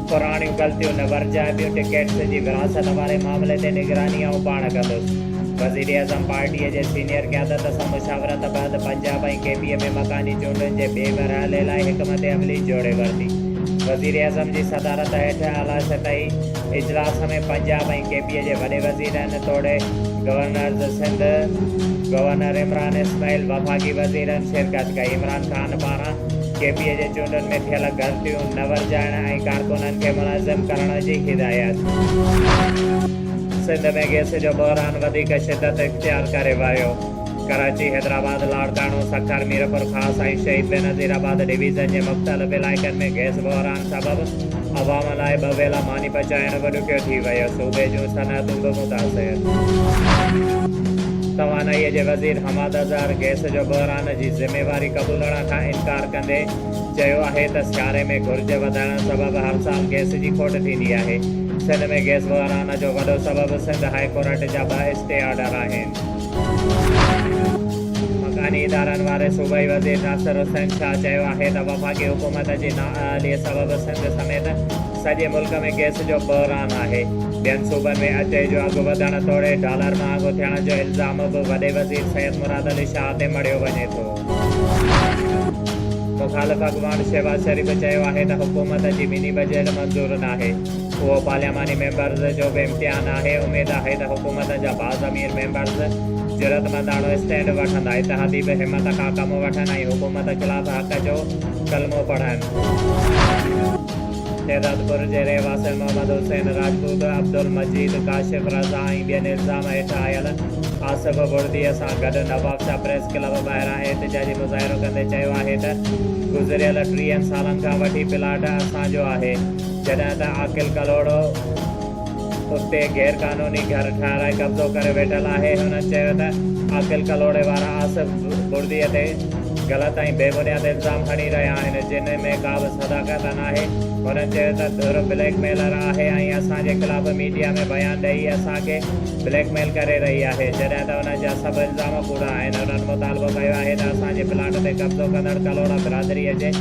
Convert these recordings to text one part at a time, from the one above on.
پراڻيون غلطيون نه ورجائبيون، ٽڪيٽس جي ورهاست واري معاملي تي نگراني آئون پاڻ ڪندس، وزيراعظم پارٽي جي سينيئر قيادت سان مشاورت بعد پنجاب ۽ ڪي پي اي ۾ مڪاني چونڊن جي ٻئي مرحلي لاء حڪمت عملي جوڙي ورتي، وزيراعظم جي صدارت هيٺ اعليٰ سطحي اجلاس ۾ پنجاب ۽ ڪي پي اي جي وڏي وزيرن توڙي گورنرز سنڌ، گورنر عمران اسماعيل، وفاقي وزيرن شرڪت ڪئي، عمران خان پاران. ڪي پي اي جي چونڊن ۾ ٿيل غلطيون نه ورجائڻ ۽ ڪارڪنن کي منظم ڪرڻ جي هدايت. سنڌ ۾ گئس جو بحران وڌيڪ شدت اختيار ڪري ويو، ڪراچي، حيدرآباد، لاڙڪاڻو، سکر، ميرپور خاص ۽ شهيد بينظير آباد ڊويزن جي مختلف علائقن ۾ گئس بحران سبب عوام لاء ٻه ويلا ماني پچائڻ به ڏکيو ٿي ويو، صوبي جون صنعتون به متاثر. توانائي جي وزير حماد اظهر گئس جو بحران جي ذميواري قبولڻ کان انڪار ڪندي چيو آهي ته سياري ۾ گهرج وڌڻ سبب هر سال گئس جي کوٽ ٿيندي آهي، سنڌ ۾ گئس بحران جو وڏو سبب سنڌ هاء ڪورٽ جا ٻه اسٽي آرڊر آهن. مڪاني ادارن واري صوبائي وزير ناصر حسين شاهه چيو آهي ته وفاقي حڪومت جي نااهلي سبب سنڌ سميت سڄي ملڪ ۾ گئس جو بحران آهي، ٻين صوبن ۾ اچي جو اگهه وڌڻ توڙي ڊالر مهانگو ٿيڻ جو الزام به وڏي وزير سيد مراد علي شاهه تي مڙهيو وڃي ٿو. مخالف اڳواڻ شهباز شريف چيو آهي ته حڪومت جي مني بجيٽ منظور ناهي، اهو پارلياماني ميمبرز جو به امتحان آهي، اميد آهي ته حڪومت جا باضمير ميمبرز جرئتمنداڻو اسٽينڊ وٺندا، اتحادي به همت کان ڪم وٺن ۽ حڪومت خلاف حق جو ڪلمو پڙهن. شهدادپور جي رهواسين محمد حسين راجپوت، عبدالمجيد ڪاشف رضا ۽ ٻين الزام هيٺ آيل آصف بڙديء سان گڏ نوابشاهه پريس ڪلب ٻاهران احتجاجي مظاهرو ڪندي چيو آهي ته گذريل ٽيهن سالن کان وٺي پلاٽ اسان جو آهي جڏهن ته عاقل ڪلهوڙو اتي غير قانوني گهر ٺهرائي قبضو ڪري ويٺل آهي، هن چيو ته عاقل ڪلهوڙي وارا آصف بڙديء تي غلط ۽ بي بنياد الزام هڻي رهيا آهن، جن ۾ ڪا به صداقت ناهي، هن چيو ته ڌر بليڪ ميلر آهي ۽ اسان جي خلاف ميڊيا ۾ بيان ڏئي اسان کي بليڪ ميل ڪري رهي آهي، جڏهن ته انهن جا سڀ الزام ڪوڙا آهن، هنن مطالبو ڪيو آهي ته اسان جي پلاٽ تي قبضو ڪندڙ ڪلهوڙا برادريء جي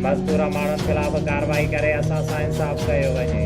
مذڪوره ماڻهن خلاف ڪارروائي ڪري اسان سان انصاف ڪيو وڃي.